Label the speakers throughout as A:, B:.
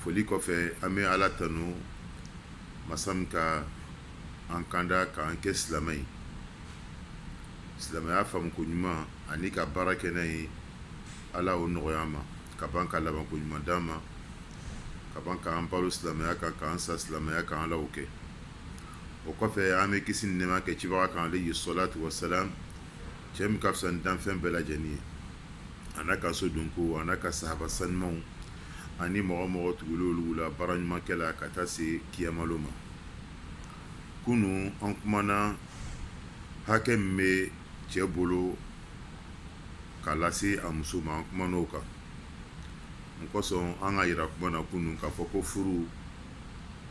A: foli kɔfɛ an bɛ ala tanu masa min ka an kanda k'an kɛ silamɛ ye silamɛya faamu ko ɲuman ani ka baara kɛ n'a ye ala o nɔgɔya an ma ka ban ka laban ko ɲuman d'an ma ka ban k'an balo silamɛya kan k'an sa silamɛya kan ala o kɛ o kɔfɛ an bɛ kisi ni nɛɛma kɛ cibaga kan alayhi salatu wasalam cɛ min ka fisa ni danfɛn bɛɛ lajɛlen ye an'a ka so donkow an'a ka sahaba sanumanw ani mɔgɔ o mɔgɔ tugula olu la baara ɲuman kɛ la ka taa se kiyama lon ma kunun an kumana hakɛ min bɛ cɛ bolo k'a lase a muso ma an kumana o kan mun kosɔn an k'a yira kuma na kunun k'a fɔ ko furu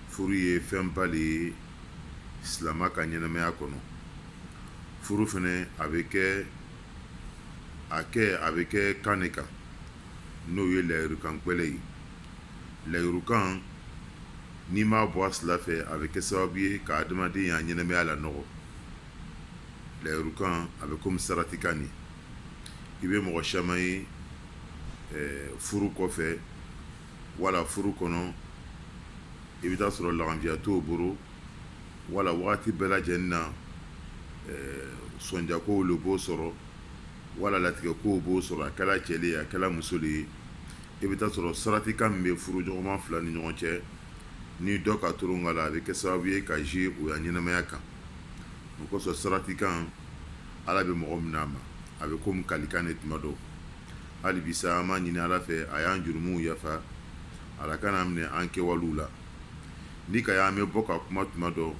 A: furu ye fɛnba de ye silamɛ ka ɲɛnamaya kɔnɔ furu fɛnɛ a bɛ kɛ a kɛ a bɛ kɛ kan de kan n'o ye layirukan gbɛlɛ ye layirukan n'i m'a bɔ a sira fɛ a bɛ kɛ sababu ye ka adamaden ya ɲɛnamaya lanɔgɔ layirukan a bɛ komi saratikan ne i bɛ mɔgɔ caman ye furu kɔfɛ wala furu kɔnɔ i bɛ taa sɔrɔ laganfiya t'o bolo wala waati bɛɛ lajɛlen na sɔnjakow de b'o sɔrɔ wala latigɛ kow b'o sɔrɔ a kɛra cɛ de ye a kɛra muso de ye i bɛ taa sɔrɔ saratikan min bɛ furu ɲɔgɔnma fila ni ɲɔgɔn cɛ ni dɔ ka toron a la a bɛ kɛ sababu ye ka jouer o ya ɲɛnamaya kan o kosɔn saratikan ala bɛ mɔgɔ minɛ a ma a bɛ komi kalikan ne tuma dɔ hali bi sa an b'a ɲini ala fɛ a y'an jurumuw yafa ala kan'an minɛ an kɛwalew la n'i k'a ye an bɛ bɔ ka kuma tuma dɔ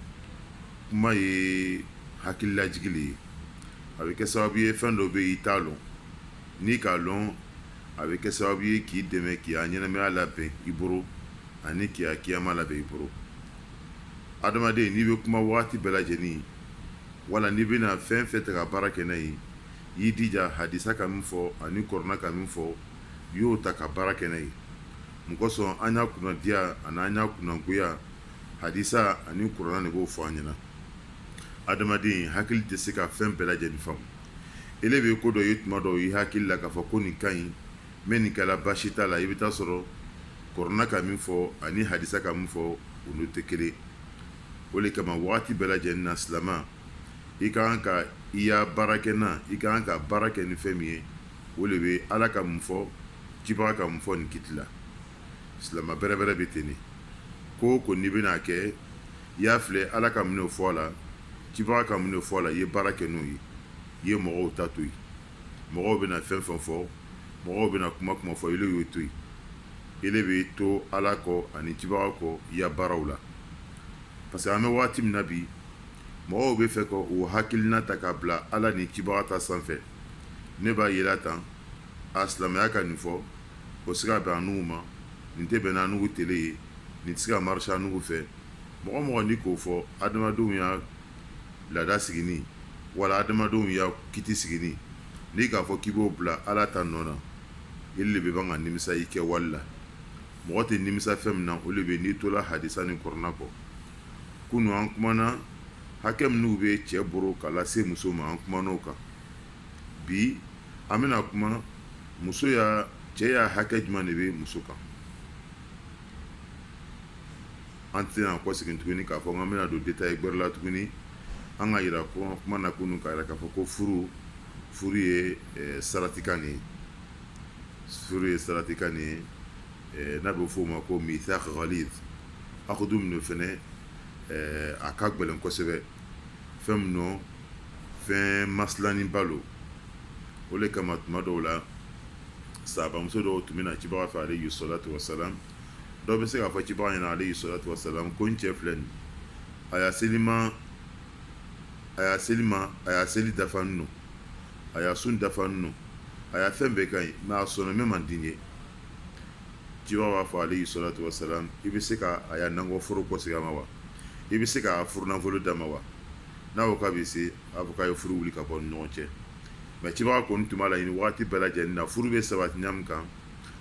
A: kuma ye hakililajigi le ye a bɛ kɛ sababu ye fɛn dɔ bɛ yen i t'a dɔn n'i k'a dɔn a bɛ kɛ sababu ye k'i dɛmɛ k'i ya ɲɛnamaya labɛn i bolo ani k'i ya kiyama labɛn i bolo adamaden n'i bɛ kuma waati bɛɛ lajɛlen wala n'i bɛna fɛn o fɛn ta ka baara kɛ n'a ye y'i dija hadisa ka min fɔ ani kɔrɔna ka min fɔ y'o ta ka baara kɛ n'a ye mun kosɔn an ya kunnadiya ani an ya kunnagoya hadisa ani kɔrɔna de b'o fɔ an ɲɛna adamaden hakili tɛ se ka fɛn bɛɛ lajɛlen faamu ele bɛ ko dɔ ye tuma dɔ i hakili la k'a fɔ ko nin ka ɲi mɛ nin kɛra baasi t'a la i bɛ taa sɔrɔ kɔrɔna ka min fɔ ani hadisa ka min fɔ olu tɛ kelen o de kama waati bɛɛ lajɛlen na silamɛ i ka kan ka i ya baara kɛ na i ka kan ka baara kɛ ni fɛn min ye o de bɛ ala ka mun fɔ cibaga ka mun fɔ nin kiti la silamɛ bɛrɛ bɛrɛ bɛ ten ko o ko n'i bɛna kɛ i y'a filɛ ala ka min fɔ a la cibaga ka min fɔ a la i ye baara kɛ n'o ye i ye mɔgɔw ta to yen mɔgɔw bɛna fɛn fɛn fɔ mɔgɔw bɛna kuma kuma fɔ ile y'o to yen ile bɛ to ala kɔ ani cibaga kɔ i ya baaraw la parce que an bɛ waati min na bi mɔgɔw bɛ fɛ ka o hakilina ta k'a bila ala ni cibaga ta sanfɛ ne b'a yira tan a silamɛya ka nin fɔ o se ka bɛn annugu ma nin tɛ bɛn n'annugu tele ye nin tɛ se ka marcher annugu fɛ mɔgɔ mɔgɔ ni k'o fɔ adamadenw ya laada sigilen wala adamadenw ya kiti sigilen n'i k'a fɔ k'i b'o bila ala ta nɔ na e le bɛ ban ka nimisa i kɛwali la mɔgɔ tɛ nimisa fɛn min na o de bɛ n'i tola hadisa ni kurana kɔ kunun an kumana hakɛ minnu bɛ cɛ bolo ka lase muso ma an kuman'o kan bi an bɛna kuma muso ya cɛ ya hakɛ jumɛn de bɛ muso kan an tɛna kɔsegin tuguni k'a fɔ an bɛna don détail gɛrɛ la tuguni an k'a yira ko kuma na kunun k'a yira k'a fɔ ko furu furu ye eh, saratikan de ye furu ye saratikan de ye eh, n'a bɛ f'o ma ko mithaq ghaliz akudu min fana eh, a ka gɛlɛn kosɛbɛ fɛn min nɔ fɛn masilaninba don o de kama tuma dɔw la sahabamuso dɔw tun bɛ na cibaga fɛ alayhi salatu wasalam dɔw bɛ se k'a fɔ cibaga ɲɛna alayhi salatu wasalam ko n cɛ filɛ nin a ya seli ma a ya seli ma a ya seli dafalen don a ya sun dafalen don a ya fɛn bɛɛ ka ɲi mɛ a sɔnna min man di n ye cibaga b'a fɔ alayhi salatu wasalam i bɛ se k'a ya nakɔ foro kɔsegin a ma wa i bɛ se ka furunafolo d'a ma wa n'a ko k'a bɛ se a ko k'a ye furu wuli ka bɔ ni ɲɔgɔn cɛ mɛ cibaga kɔni tun b'a laɲini waati bɛɛ lajɛlen na furu bɛ sabati ɲa min kan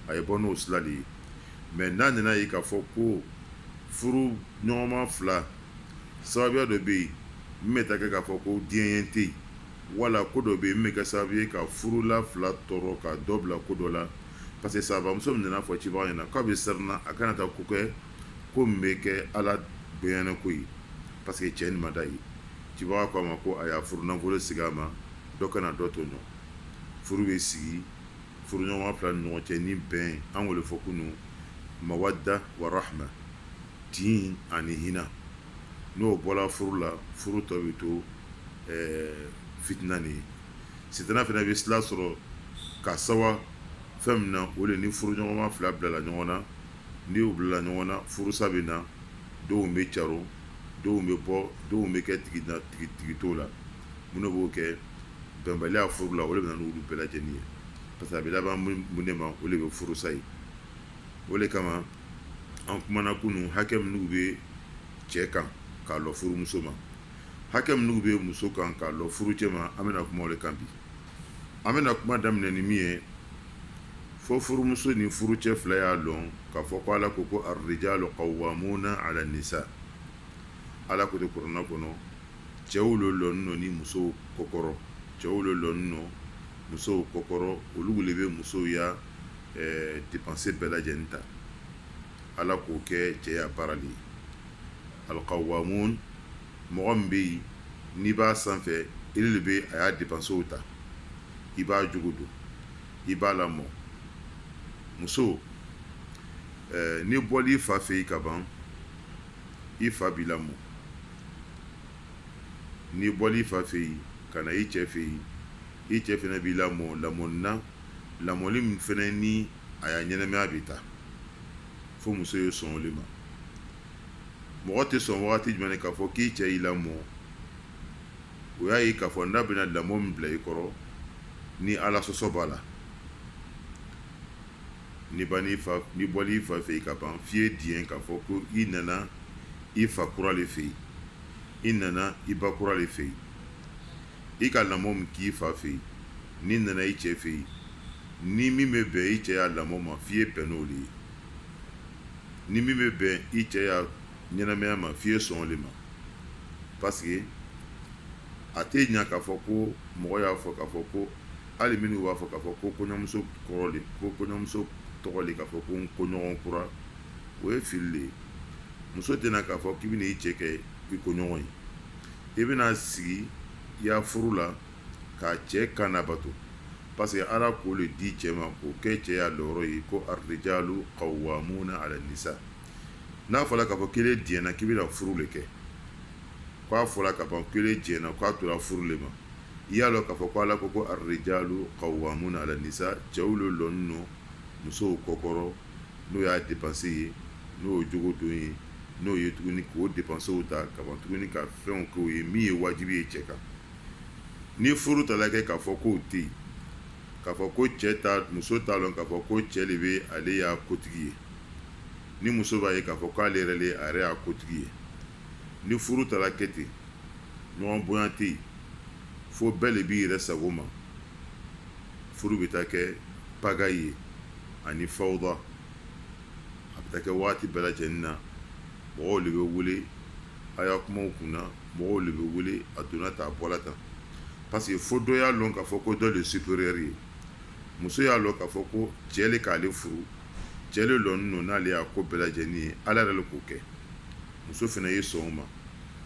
A: a ye bɔ n'o sira de ye mɛ n'a nana ye k'a fɔ ko furu ɲɔgɔnma fila sababuya dɔ bɛ yen min bɛ taa kɛ k'a fɔ ko diɲɛ tɛ yen wala ko dɔ bɛ yen min bɛ kɛ sababu ye ka furula fila tɔɔrɔ ka dɔ bila ko dɔ la parce que sahabamuso min nana fɔ cibaga ɲɛna k'a bɛ siran a kana taa ko kɛ ko min bɛ kɛ ala gboyanako ye parce que cɛ nin man d'a ye cibaga ko a ma ko a y'a furu nafolo segin a ma dɔ kana dɔ tɔɲɔ furu bɛ sigi furuɲɔgɔnma fila ni ɲɔgɔn cɛ ni bɛn an y'o le fɔ kunun mawadda wa rahma tin ani hinɛ n'o bɔra furu la furu tɔ bɛ to fitina ni ye sitana fana bɛ sila sɔrɔ ka sawa fɛn min na o de ni furuɲɔgɔnma fila bilala ɲɔgɔn na n'i y'u bila ɲɔgɔn na furusa bɛ na denw bɛ caron denw bɛ bɔ denw bɛ kɛ tigi t'o la minnu b'o kɛ bɛnbaliya furu la o de bɛ na n'olu bɛɛ lajɛlen ye parce que a bɛ laban mun de ma o de bɛ furusa ye o de kama an kumana kunun hakɛ minnu bɛ cɛ kan k'a lɔ furumuso ma hakɛ minnu bɛ muso kan k'a lɔ furucɛ ma an bɛna kuma o de kan bi an bɛna kuma daminɛ ni min ye fo furumuso ni furucɛ fila y'a dɔn k'a fɔ ko ala ko ko arrijalu qawwamuna ala nisa ala ko ten kurana kɔnɔ cɛw don lɔnin don ni musow kɔkɔrɔ cɛw don lɔnin don musow kɔkɔrɔ olu de bɛ musow ya dépense bɛɛ lajɛlen ta ala k'o kɛ cɛ ya baara de ye alqawwamu mɔgɔ min bɛ yen n'i b'a sanfɛ ele de bɛ a ya dépensew ta i b'a jogo don i b'a lamɔ muso n'i bɔla i fa fɛ yen ka ban i fa b'i lamɔ n'i bɔla i fa fɛ yen ka na i cɛ fɛ yen i cɛ fana b'i lamɔ lamɔni na lamɔni min fana ni a ya ɲɛnamaya bɛ taa fo muso ye sɔn o de ma mɔgɔ tɛ sɔn wagati jumɛn k'a fɔ k'i cɛ y'i lamɔ o y'a ye k'a fɔ n'a bɛna lamɔ min bila i kɔrɔ ni ala sɔsɔ b'a la n'i bɔla i fa fɛ yen ka ban f'i ye diɲɛ k'a fɔ ko i nana i fa kura de fɛ yen i nana i ba kura de fɛ yen i ka lamɔ min k'i fa fɛ yen n'i nana i cɛ fɛ yen ni min bɛ bɛn i cɛ ya lamɔ ma f'i ye bɛn n'o de ye ni min bɛ bɛn i cɛ ɲɛnamaya ma f'i ye sɔn o de ma parce que a tɛ ɲɛ k'a fɔ ko mɔgɔ y'a fɔ k'a fɔ ko hali minnu b'a fɔ k'a fɔ ko kɔɲɔmuso kɔrɔ ko kɔɲɔmuso tɔgɔ de k'a fɔ ko n koɲɔgɔn kura o ye fili de ye muso tɛ na k'a fɔ k'i bɛna i cɛ kɛ i koɲɔgɔn ye i bɛna sigi i ya furu la ka cɛ kan labato parce que ala k'o de di cɛ ma k'o kɛ cɛ ya lɔyɔrɔ ye ko arrijalu qawwamuna ala nisa N'a fɔra k'a fɔ k'ele diɲɛna k'i bɛna furu de kɛ k'a fɔra ka ban k'ele diɲɛna k'a tora furu de ma i y'a dɔn k'a fɔ k' ala ko ko arrijalu qawwamuna ala nisa cɛw de lɔnin don musow kɔkɔrɔ n'o y'a dépense ye n'o ye jogo don ye n'o ye tuguni k'o dépensew ta ka ban tuguni ka fɛnw k'o ye min ye wajibi ye cɛ kan ni furu taala kɛ k'a fɔ k'o tɛ yen k'a fɔ ko cɛ muso t'a dɔn k'a fɔ ko cɛ de bɛ ale ya kotigi ye ni muso b'a ye k'a fɔ k'ale yɛrɛ de a yɛrɛ ya kotigi ye ni furu taara kɛ ten ɲɔgɔn bonya tɛ yen fo bɛɛ de b'i yɛrɛ sago ma furu bɛ taa kɛ pagaille ye ani fawuda a bɛ taa kɛ waati bɛɛ lajɛlen na mɔgɔw de bɛ wele a ya kumaw kunna mɔgɔw de bɛ wele a donna tan a bɔra tan parce que fo dɔ y'a dɔn k'a fɔ ko dɔ de supérieur ye muso y'a dɔn k'a fɔ ko cɛ de k'ale furu cɛ de lɔnin don n'ale ya ko bɛɛ lajɛlen ye ala yɛrɛ de k'o kɛ muso fana ye sɔn o ma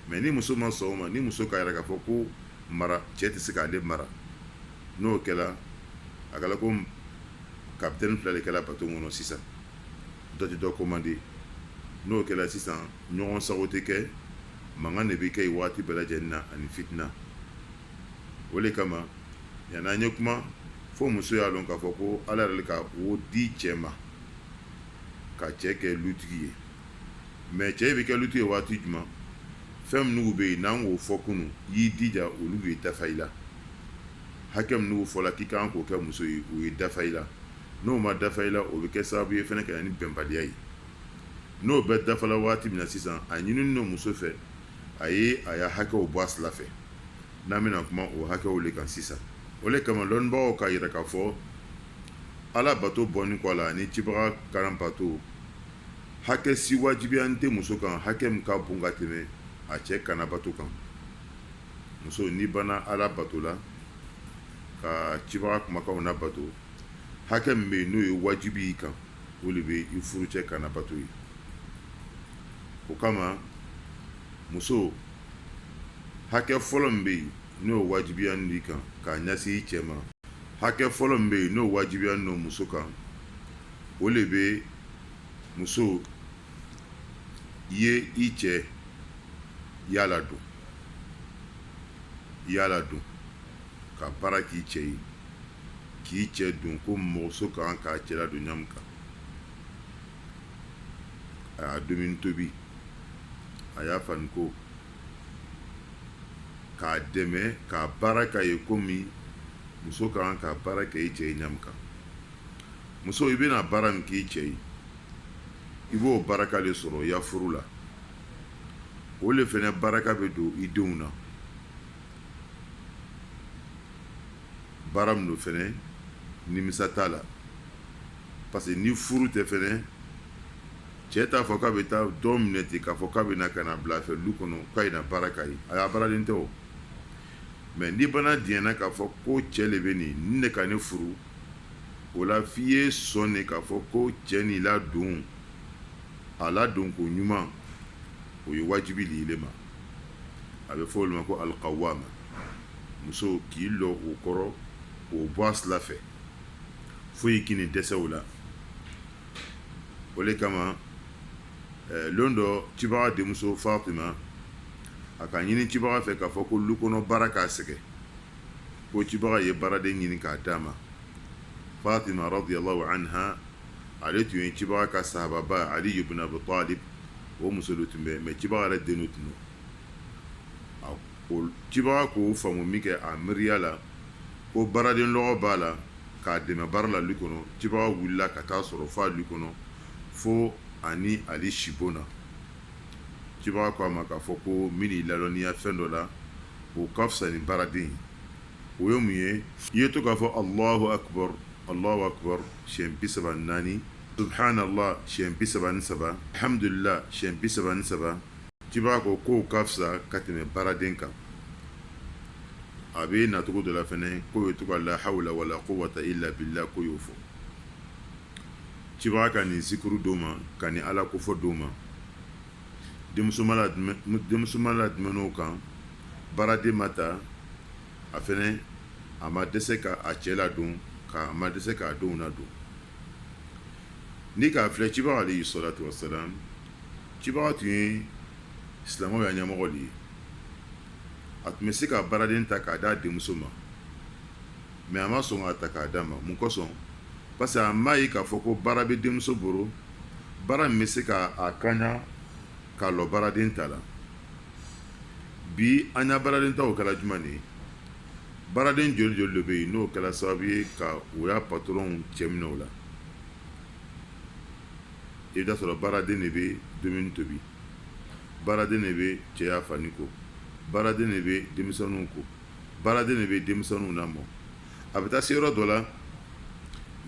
A: mɛ ni muso ma sɔn o ma ni muso k'a yira k'a fɔ ko mara cɛ tɛ se k'ale mara n'o kɛra a kɛra ko kapitɛni fila de kɛra bato kɔnɔ sisan dɔ tɛ dɔ komande n'o kɛra sisan ɲɔgɔn sago tɛ kɛ mankan de bɛ kɛ yen waati bɛɛ lajɛlen na ani fitina o de kama yani an ye kuma fo muso y'a dɔn k'a fɔ ko ala yɛrɛ de ka o di cɛ ma ka cɛ kɛ lutigi ye mɛ cɛ bɛ kɛ lutigi ye waati jumɛn fɛn minnu bɛ yen n'an k'o fɔ kunun y'i dija olu ye dafa i la hakɛ minnu fɔla k'i kan k'o kɛ muso ye u ye dafa i la n'o ma dafa i la o bɛ kɛ sababu ye fana ka na ni bɛnbaliya ye n'o bɛɛ dafala waati min na sisan a ɲininin don muso fɛ a ye a ya hakɛw bɔ a sira fɛ n'an bɛna kuma o hakɛw de kan sisan o de kama dɔnnibagaw k'a yira k'a fɔ ala bato bɔnin kɔ a la ni cibaga kan labato hakɛ si wajibiyanin tɛ muso kan hakɛ min ka bon ka tɛmɛ a cɛ kan labato kan muso ni banna ala bato la ka cibaga kumakanw labato hakɛ min bɛ yen n'o ye wajibi y'i kan o de bɛ i furucɛ kan labato ye o kama muso hakɛ fɔlɔ min bɛ yen n'o wajibiyanin d'i kan ka ɲɛsin i cɛ ma hakɛ fɔlɔ min bɛ yen n'o wajibiyanin don muso kan o de bɛ muso ye i cɛ y'a ladon y'a ladon ka baara k'i cɛ ye k'i cɛ ladon komi muso kan k'a cɛ ladon ɲa min kan a y'a dumuni tobi a y'a fani ko k'a dɛmɛ k'a baara k'a ye komi muso ka kan ka baara kɛ i cɛ ye ɲa min kan muso i bɛna baara min k'i cɛ ye i b'o baraka de sɔrɔ i ya furu la o de fana baraka bɛ don i denw na baara min don fana nimisa t'a la parce que ni furu tɛ fɛnɛ cɛ t'a fɔ k'a bɛ taa dɔ minɛ ten k'a fɔ k'a bɛ na ka n'a bila a fɛ lu kɔnɔ k'a ye na baara k'a ye a ya baaraden tɛ o mais n'i bana diɲɛna k'a fɔ ko cɛ le bɛ nin nin de ka ne furu o la f'i ye sɔn de k'a fɔ ko cɛ nin ladon a ladon ko ɲuman o ye wajibi le ile ma a bɛ fɔ o le ma ko alqawama muso k'i lɔ o kɔrɔ k'o bɔ a sila fɛ foyi kan'i dɛsɛ o la o le kama eh, lon dɔ cibaga denmuso fatima a ka ɲini cibaga fɛ k'a fɔ ko lu kɔnɔ baara k'a sɛgɛ ko cibaga ye baaraden ɲini k'a d'a ma fatima radiallahu anha ale tun ye cibaga ka sahababa ali ibn abi talib o muso le tun bɛ mais cibaga yɛrɛ den de tun don cibaga k'o faamu min kɛ a miiriya la ko baaraden lɔgɔ b'a la k'a dɛmɛ baara la lu kɔnɔ cibaga wulila ka t'a sɔrɔ f'a lu kɔnɔ fo a ni ali sibon na cibaga ko a ma k'a fɔ ko n bɛn'i ladɔnniya fɛn dɔ la o ka fisa ni baaraden o ye mun ye i ye to k'a fɔ allahu akbar allahu akbar siyɛn bi saba ni naani subhanallah siyɛn bi saba ni saba alhamdulillah siyɛn bi saba ni saba cibaga ko k'o ka fisa ka tɛmɛ baaraden kan a bɛ nacogo dɔ la fɛnɛ k'o ye to ka la hawla wala quwwata illa billah k'o y'o fɔ cibaga ka nin zikuru d'o ma ka nin Ala kofɔ d'o ma denmuso ma ladumɛn o kan baaraden ma ta a fɛnɛ a ma dɛsɛ ka a cɛ ladon ka a ma dɛsɛ k'a denw ladon ni k'a filɛ cibaga alayhi salatu wassalam cibaga tun ye silamɛw ya ɲɛmɔgɔ de ye a tun bɛ se ka baaraden ta k'a d'a denmuso ma mais a ma sɔn k'a ta k'a d'a ma mun kosɔn parce que a m'a ye k'a fɔ ko baara bɛ denmuso bolo baara min bɛ se ka a kaɲa k'a lɔ baaraden ta la bi an ya baaraden ta o kɛla jumɛn de ye baaraden joli joli de bɛ yen n'o kɛla sababu ye ka u ya patɔrɔnw cɛ minɛ o la i bɛ t'a sɔrɔ baaraden de bɛ dumuni tobi baaraden de bɛ cɛ ya fani ko baaraden de bɛ denmisɛnninw ko baaraden de bɛ denmisɛnninw lamɔ a bɛ taa se yɔrɔ dɔ la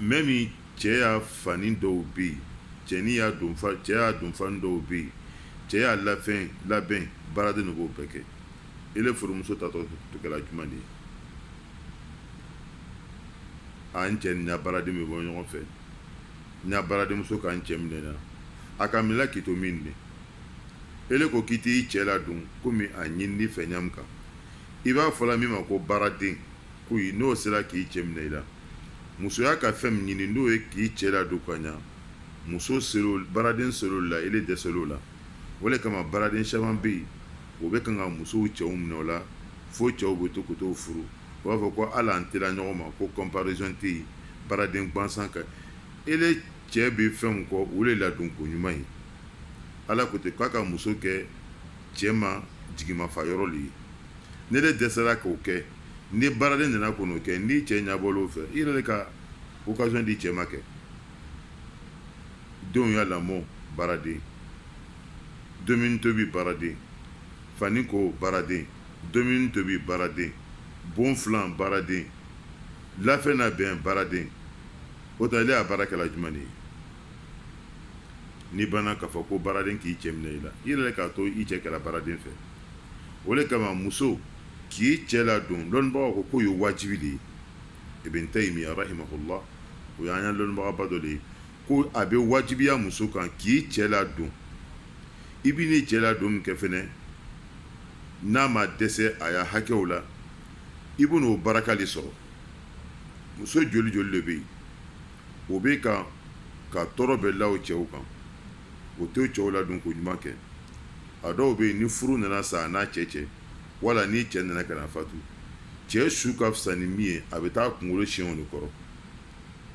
A: même cɛ ya fani dɔw bɛ yen cɛnin ya don cɛ ya donfani dɔw bɛ yen cɛ ya lafɛn labɛn baaraden de b'o bɛɛ kɛ ele furumuso ta tɔ kɛra jumɛn de ye an cɛ ni baaraden bɛ bɔ ɲɔgɔn fɛ n ya baaradenmuso k'an cɛ minɛ na a ka minɛ k'i to min de ele ko k'i t'i cɛ ladon kɔmi a ɲinin'i fɛ ɲa min kan i b'a fɔ la min ma ko baaraden ko n'o sera k'i cɛ minɛ i la musoya ka fɛn min ɲini n'o ye k'i cɛ ladon ka ɲa muso baaraden ser'o la ele dɛsɛl'o la o de kama baaraden caman bɛ yen o bɛ kan ka musow cɛw minɛ o la fo cɛw bɛ to ka t'o furu u b'a fɔ ko hali an tɛ la ɲɔgɔn ma ko comparaison tɛ yen baaraden gansan ka ele cɛ bɛ fɛn min kɔ o de ladon ko ɲuman ye ala ko ten k'a ka muso kɛ cɛ ma jigimafa yɔrɔ de ye n'ele dɛsɛra k'o kɛ ni baaraden nana ka n'o kɛ n'i cɛ ɲɛbɔl'o fɛ i yɛrɛ de ka occasion di cɛ ma kɛ denw y'a lamɔ baaraden Dumuni tobi baaraden fani ko baaraden dumuni tobi baaraden bon filan baaraden lafɛn nabɛn baaraden o tɛ ele ya baara kɛla jumɛn ye n'i banna k'a fɔ ko baaraden k'i cɛ minɛ i la i yɛrɛ k'a to i cɛ kɛla baaraden fɛ o de kama muso k'i cɛ ladon lɔnnibagaw ko k'o ye wajibi de ye Ibn Taymiya rahimahullah o y'an ya lɔnnibagaba dɔ de ye ko a bɛ wajibiya muso kan k'i cɛ ladon i bɛ n'i cɛ ladon min kɛ fɛnɛ n'a ma dɛsɛ a ya hakɛw la i bɛ n'o baraka de sɔrɔ muso joli joli de bɛ yen o bɛ kan ka tɔɔrɔ bɛɛ la o cɛw kan o t'o cɛw ladon ko ɲuman kɛ a dɔw bɛ yen ni furu nana sa a n'a cɛ cɛ wala ni cɛ nana ka na fatu cɛ su ka fisa ni min ye a bɛ taa kunkolo siɲɛ de kɔrɔ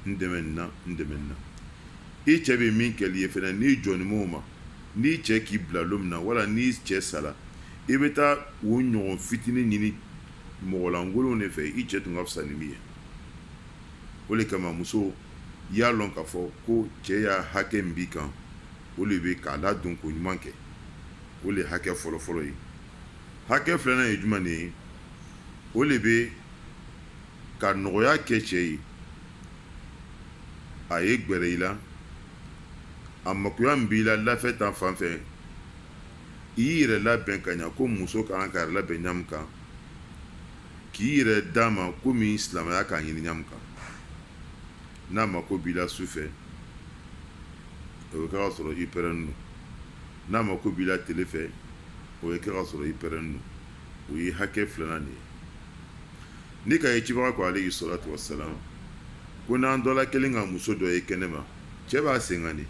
A: n dɛmɛ nin na n dɛmɛ nin na i cɛ bɛ min kɛl'i ye fɛnɛ n'i jɔnnen b'o ma n'i cɛ k'i bila don min na wala n'i cɛ sara i bɛ taa o ɲɔgɔn fitinin ɲini mɔgɔlankolon de fɛ i cɛ tun ka fisa ni min ye o de kama muso i y'a lɔn k'a fɔ ko cɛ ya hakɛ min b'i kan o de bɛ k'a ladon ko ɲuman kɛ o de ye hakɛ fɔlɔfɔlɔ ye hakɛ filanan ye jumɛn de ye o de bɛ ka nɔgɔya kɛ cɛ ye a ye gɛrɛ i la a makoya min b'i la lafɛn ta fan fɛ i y'i yɛrɛ labɛn ka ɲa ko muso ka kan k'a yɛrɛ labɛn ɲa min kan k'i yɛrɛ d'a ma kɔmi silamɛya k'a ɲini ɲa min kan n'a mako b'i la su fɛ o ye kɛ k'a sɔrɔ i pɛrɛnnen don n'a mako b'i la tele fɛ o ye kɛ k'a sɔrɔ i pɛrɛnnen don o ye hakɛ filanan de ye n'i k'a ye cibaga ko alayhi salatu wasalam ko n'an dɔ la kelen ka muso dɔ ye kɛnɛ ma cɛ b'a sen kan de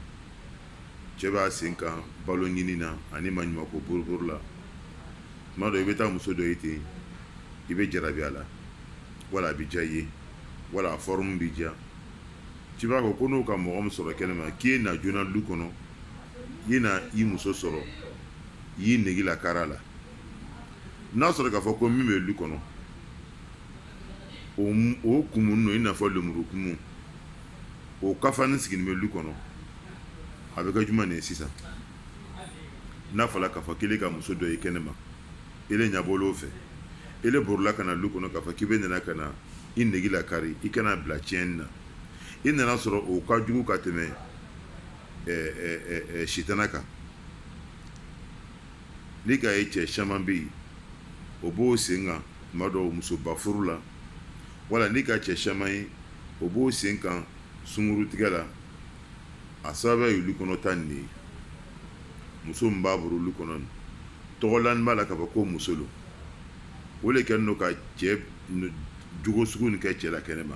A: cɛ b'a sen kan balo ɲini na ani maɲumanko boribori la tuma dɔ i bɛ taa muso dɔ ye ten i bɛ jarabi a la wala a bɛ diya i ye wala a forme b'i diya cibaga ko n'o ka mɔgɔ min sɔrɔ kɛnɛ ma k'i ye na joona du kɔnɔ i na i muso sɔrɔ y'i nege lakari a la n'a sɔrɔ k'a fɔ ko min bɛ du kɔnɔ o kumunen don i n'a fɔ lemuru kumu o kafani sigilen bɛ du kɔnɔ a bɛ kɛ jumɛn de ye sisan n'a fɔra k'a fɔ k'ele ka muso dɔ ye kɛnɛ ma ele ɲɛbɔla o fɛ ele borila ka na du kɔnɔ k'a fɔ k'i bɛ nana ka na i nege lakari i kana bila tiɲɛni na i nana sɔrɔ o ka jugu ka tɛmɛ sitana kan n'i k'a ye cɛ caman bɛ yen o b'o sen kan tuma dɔw musoba furu la wala n'i ka cɛ caman ye o b'o sen kan sungurutigɛ la a sababu ye du kɔnɔ ta nin de ye muso min b'a bolo du kɔnɔ nin tɔgɔ lanen b'a la k'a fɔ ko muso don o de kɛlen don ka cɛ jogo sugu nin kɛ cɛ la kɛnɛ ma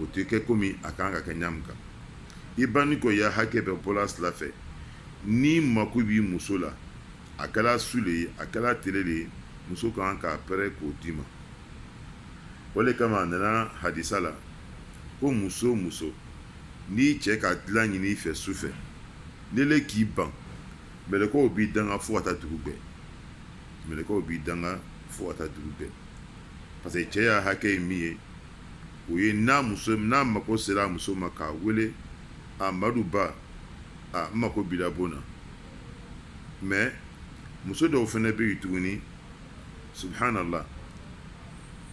A: o tɛ kɛ komi a kan ka kɛ ɲa min kan i bannen kɔ y'a hakɛ bɛɛ bɔ ala sira fɛ n'i mako b'i muso la a kɛra su de ye a kɛra tele de ye muso kan k'a pɛrɛ k'o d'i ma o de kama a nana hadisa la ko muso o muso n'i cɛ ka dilan ɲini i fɛ su fɛ n'ele k'i ban mɛlɛkɛw b'i danga fo ka taa dugu gbɛ mɛlɛkɛw b'i danga fo ka taa dugu gbɛ parce que cɛ ya hakɛ ye min ye o ye n'a mako sera a muso ma k'a wele a madu ba a n mako b'i la bon na mais muso dɔw fɛnɛ bɛ yen tuguni subhanallah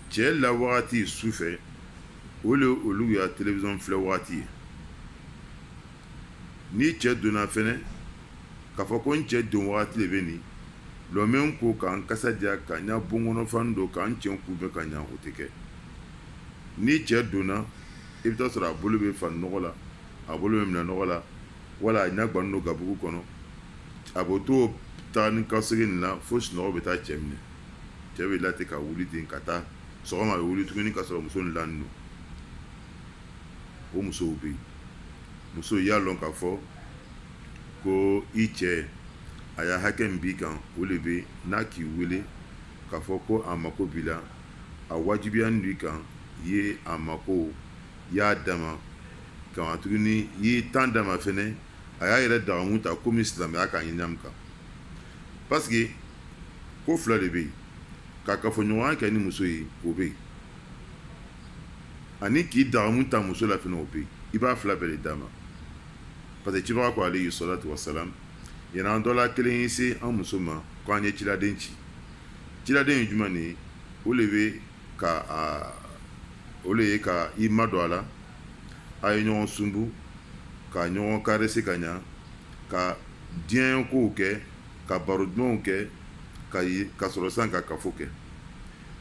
A: cɛ la wagati su fɛ o de olu ya télévision filɛ wagati ye ni cɛ donna fɛnɛ k'a fɔ ko n cɛ don wagati de bɛ nin lɔ n bɛ ko ka n kasa diya ka ɲa bon kɔnɔ fani don ka n cɛ kunbɛn ka ɲa o tɛ kɛ ni cɛ donna i bɛ taa sɔrɔ a bolo bɛ fani nɔgɔ la a bolo bɛ minɛn nɔgɔ la wala a ɲa gbannen don gabugu kɔnɔ a b'o to taa ni ka segin nin na fo sunɔgɔ bɛ taa cɛ minɛ cɛ bɛ la ten ka wuli ten ka taa sɔgɔma a bɛ wuli tuguni ka sɔrɔ muso nin lanen don o musow bɛ yen muso y'a dɔn k'a fɔ ko i cɛ a y'a hakɛ min b'i kan o de bɛ n'a k'i wele k'a fɔ ko a mako b'i la a wajibiyanin b'i kan i ye a mako i y'a d'a ma ka tuguni i ye temps d'a ma fɛnɛ a y'a yɛrɛ dagamu ta komi silamɛya ka ɲin kan parce que ko fila de bɛ yen ka kafoɲɔgɔnya kɛ ni muso ye o bɛ yen ani k'i dagamu ta muso la fɛnɛ o bɛ yen i b'a fila bɛɛ de d'a ma Parce que cibaga ko alayhi salatu wasalam yani an dɔ la kelen ye se an muso ma k' an ye ciladen ci ciladen ye jumɛn de ye o de bɛ ka o de ye ka i madon a la a ye ɲɔgɔn sunbu ka ɲɔgɔn caresser ka ɲɛ ka diyanye kow kɛ ka baro dumanw kɛ ka ka sɔrɔ san ka kafo kɛ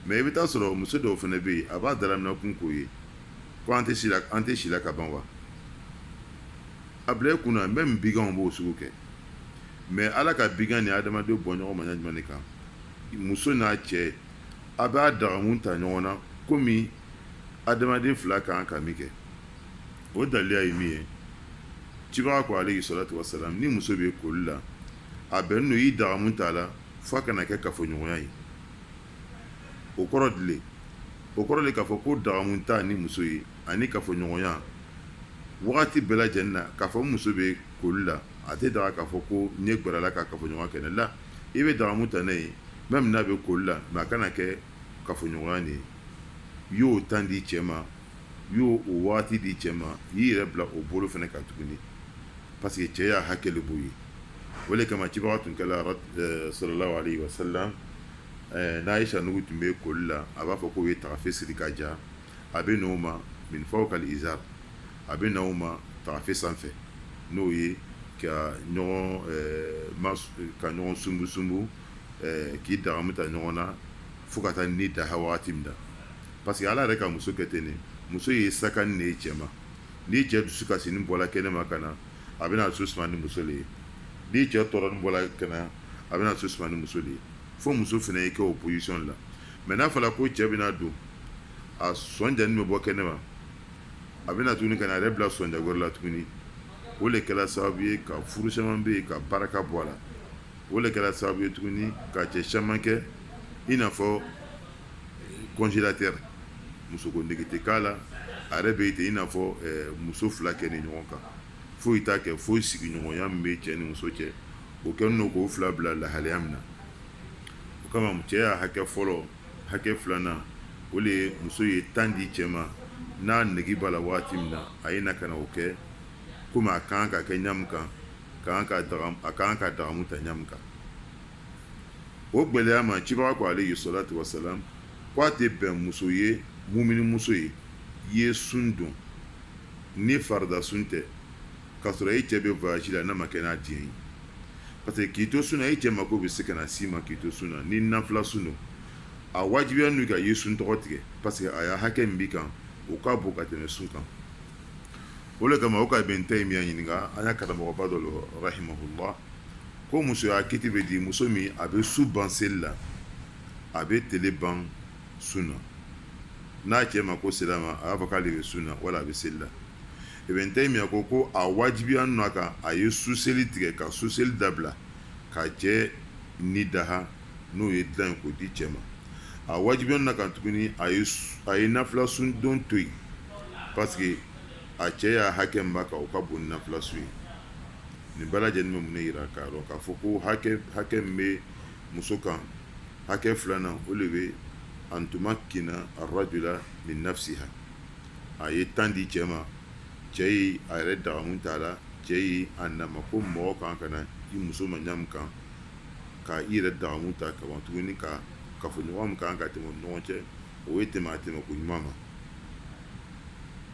A: mais i bɛ t'a sɔrɔ muso dɔw fɛnɛ bɛ yen a b'a dalaminakun k'o ye ko an tɛ si la, an tɛ si la ka ban wa? A bila i kun na même biganw b'o sugu kɛ mais Ala ka bigan ni adamadenw bɔ ɲɔgɔn ma ɲa jumɛn de kan? muso n'a cɛ a b'a dagamu ta ɲɔgɔn na komi adamaden fila kan ka min kɛ o daliya ye min ye cibaga ko alayhi salatu wasalam ni muso bɛ koli la a bɛnnen don i dagamu t'a la f'a kana kɛ kafoɲɔgɔnya ye o kɔrɔ di le o kɔrɔ de k'a fɔ ko dagamu ta ni muso ye ani kafoɲɔgɔnya wagati bɛɛ lajɛlen na k'a fɔ ni muso bɛ koli la a tɛ daga k'a fɔ ko i ye gɛrɛ a la ka kafoɲɔgɔnya kɛ n'a la i bɛ dagamu ta n'a ye même n'a bɛ koli la mais a kana kɛ kafoɲɔgɔnya de ye i y'o temps di cɛ ma i y'o waati di cɛ ma i y'i yɛrɛ bila o bolo fɛnɛ ka tuguni parce que cɛ y'a hakɛ de b'o ye o de kama cibaga tun kɛra sallallahu alayhi wa sallam n'Aisha nugu tun bɛ koli la a b'a fɔ k'o ye taafe siri ka ja a bɛ n'o ma min fawqal izar a bɛ n'o ma taafe sanfɛ n'o ye ka ka ɲɔgɔn sunbu sunbu k'i dagamu ta ɲɔgɔn na fo ka taa ni da waati min na parce que ala yɛrɛ ka muso kɛ ten de muso ye sakani de ye cɛ ma ni cɛ dusukasinin bɔla kɛnɛ ma ka na a bɛna a dusu suma ni muso ye ni cɛ tɔɔrɔnin bɔla kɛnɛ a bɛna dusu suma ni muso de ye fo muso fɛnɛ ye kɛ o position la mais n'a fɔra ko cɛ bɛna don a sɔnjanin bɛ bɔ kɛnɛ ma a bɛna tuguni ka na a yɛrɛ bila sɔnja wɛrɛ la tuguni o de kɛra sababu ye ka furu caman bɛ yen ka barika bɔ a la o de kɛra sababu ye tuguni ka cɛ caman kɛ i n'a fɔ congélateur musoko nege tɛ k'a la a yɛrɛ bɛ ten i n'a fɔ eh, muso fila kɛnin ɲɔgɔn kan foyi t'a kɛ foyi sigiɲɔgɔnya min bɛ cɛ ni muso cɛ o kɛlen k'o fila bila lahalaya min na o kama cɛ ya hakɛ fɔlɔ hakɛ filanan o de ye muso ye temps di cɛ ma n'a nege b'a la waati min na a ye na ka na o kɛ komi a kan ka kɛ ɲamu kan a kan ka dagamu ta ɲamu kan o gɛlɛya ma cibaga ko alayhi salatu wasalam ko a tɛ bɛn muso ye mumini muso ye i ye sun don ni farida sun tɛ K'a sɔrɔ e cɛ bɛ voyage la n'a ma kɛ n'a diɲɛ ye parce que k'i to sun na e cɛ mako bɛ se ka na s'i ma k'i to sun na ni nafila sun don a wajibiyan'i kan i ye sun tɔgɔ tigɛ parce que a ya hakɛ min b'i kan o ka bon ka tɛmɛ sun kan o le kama o ka ibn Taymiya ɲininka an ya karamɔgɔba dɔ lo rahimahullah ko muso ya kiti bɛ di muso min a bɛ su ban seli la a bɛ tele ban sun na n'a cɛ mako sera a ma a b'a fɔ k'ale bɛ sun na wala a bɛ seli la ibn Taymiya ko a wajibiyan'a kan a ye su seli tigɛ ka su seli dabila k'a cɛ ni daha n'o ye dilan ko di cɛ ma a wajibiyan'a kan tuguni a ye nafila sun don to yen parce que a cɛ ya hakɛ min b'a kan o ka bon nafila sun ye nin bɛɛ lajɛlen bɛ mun ne yira k'a dɔn k'a fɔ ko hakɛ min bɛ muso kan hakɛ filanan o de bɛ an tumakkina ar-rajula min nafsiha a ye temps di cɛ ma cɛ ye a yɛrɛ dagamu t'a la cɛ ye a na a ma ko mɔgɔ kan ka na i muso ma ɲamu kan ka i yɛrɛ dagamu ta ka ban tuguni ka kafoɲɔgɔn min kan ka tɛmɛ u ni ɲɔgɔn cɛ o ye tɛmɛ a tɛmɛ ko ɲuman ma